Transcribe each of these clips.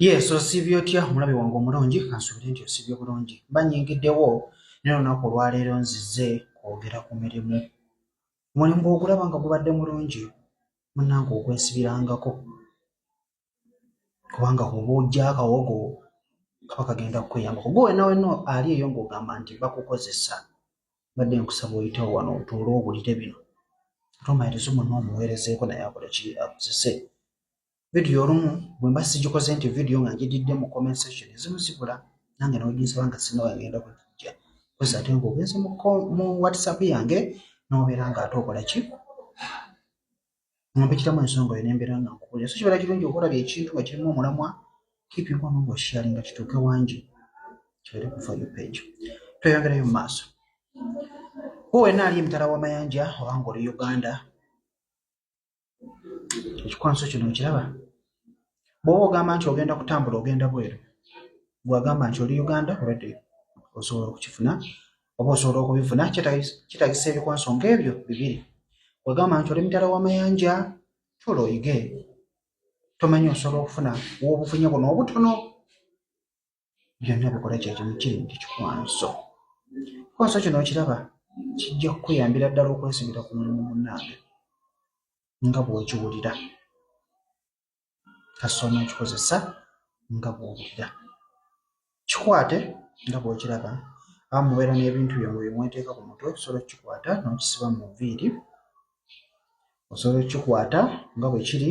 yes osiibye otya omulabi wange omulungi kansubire nti osiibye bulungi banyingiddewo naye olunaku olwaleero nzize kwogera ku mirimu omulimu gwogulaba nga gubadde mulungi munange okwesibirangako kubanga kuba ojja akawogo kaba kagenda kukweyambako gwe wena wena ali eyo ngaogamba nti bakukozesa badde nkusaba oyitewo wano otuule owulire bino tomayiriza omuna omuweerezeeko naye akola ki akozese vidiyo olumu bwe mba sigikoze nti vidiyo nga ngididde mu comment section ezimu zibula nange noginsaba nga sinawa ngenda kugijja kozi ate nga ogenze mu whatsapp yange nobeera nga ate okola ki ompitiramu ensonga oyo nembeera nga nkukulira so kibeera kirungi okolabya ekintu nga kirimu omulamwa kipinga ono ngaoshiyali nga kituuke wangi kibeere kufa yo page tweyongerayo mu maaso wena ali emitala wamayanja obanga oli uganda ekikwanso kino okiraba bwoba ogamba nti ogenda kutambula ogenda bweru gwagamba nti oli uganda obadde osobola okukifuna oba osobola okubifuna kitagisa ebikwanso ngaebyo bibiri wegamba nti oli mitala wamayanja tula oyige tomanyi osobola okufuna wobufunye buno obutono byonna bikola kyekimu kiri nti kikwanso kwanso kino okiraba kijja kukuyambira ddala okwesigira ku mulimu munaange nga bw'okiwulira kasita onookikozesa nga bw'owulira kikwate nga bw'okiraba aba mubeera n'ebintu byammwe bye mweteeka ku mutwe osobola okukikwata n'okisiba mu nviiri osobola okukikwata nga bwe kiri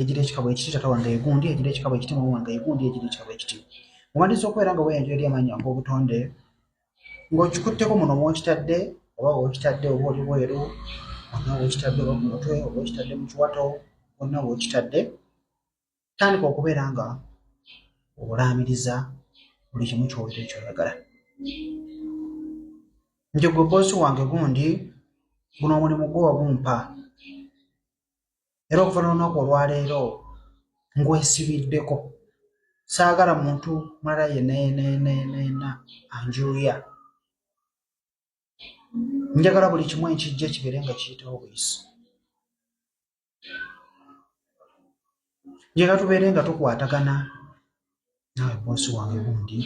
ejira ekikabo ekiti tata wange egundi ejira ekikabo ekiti mama wange egundi ejira ekikabo ekiti muwandiisa okubeera nga weyanjula eri amaanyi yange obutonde ng'okikutteko muno mwokitadde oba wokitadde oba oli bweru onna wokitadde oba ku mutwe oba okitadde mu kiwato onna wokitadde tandika okubeera nga olaamiriza buli kimu kyowulira ekyoyagala nti gwe boosi wange gundi guno omulimu gwo wagumpa era okuva nolunaku olwaleero ngwesibiddeko saagala muntu mulala yenenenenena anjuuya njagala buli kimu ekijja kibeere nga kiyitawo buyisi njagala tubeere nga tukwatagana naawe bosi wange gundi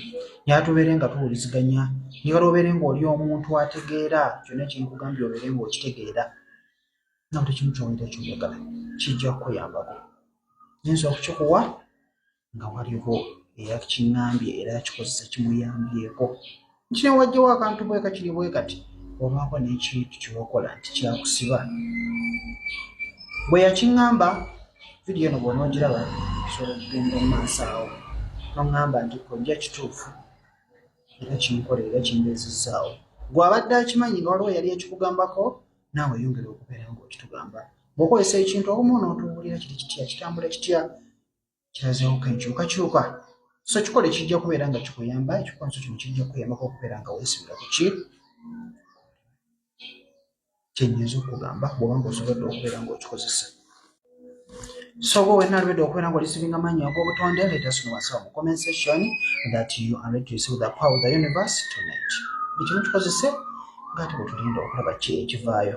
naye ate obeere nga tuwuliziganya niwala obeere ng'oli omuntu ategeera kyonna kyenkugambye obeere ng'okitegeera nawe tekimu kyowulira kyoyagala kijja kukuyambako nyinza okukikuwa nga waliwo eyakiŋambye era akikozesa kimuyambyeko kino wajjawo akantu bweka kiri bwe kati obaako n'ekintu kyewakola nti kyakusiba bwe yakiŋŋamba vidiyo eno bw'onoogiraba kisobola okugenda mu maaso awo noŋŋamba nti kojja kituufu era kinkolera era kimbeezizzaawo gw'abadde akimanyi nga waliwo yali ekikugambako naawe yongera okubeera ng'okitugamba bw'okozesa ekintu omu onootuwulira kiri kitya kitambula kitya kirazewo ku enkyukakyuka so kikole kijja kubeera nga kikuyamba ekikonso kino kijja kukuyambako okubeera nga weesibira ku ki kyenyinza okugamba bwoba nga osobodde okubeera ngaokikozesa So go and read Okwena what is giving a man your go to and let us know what's up. Comment section that you are ready to receive the power of the universe tonight. Ekintu you because it's a got to lead or have a change via.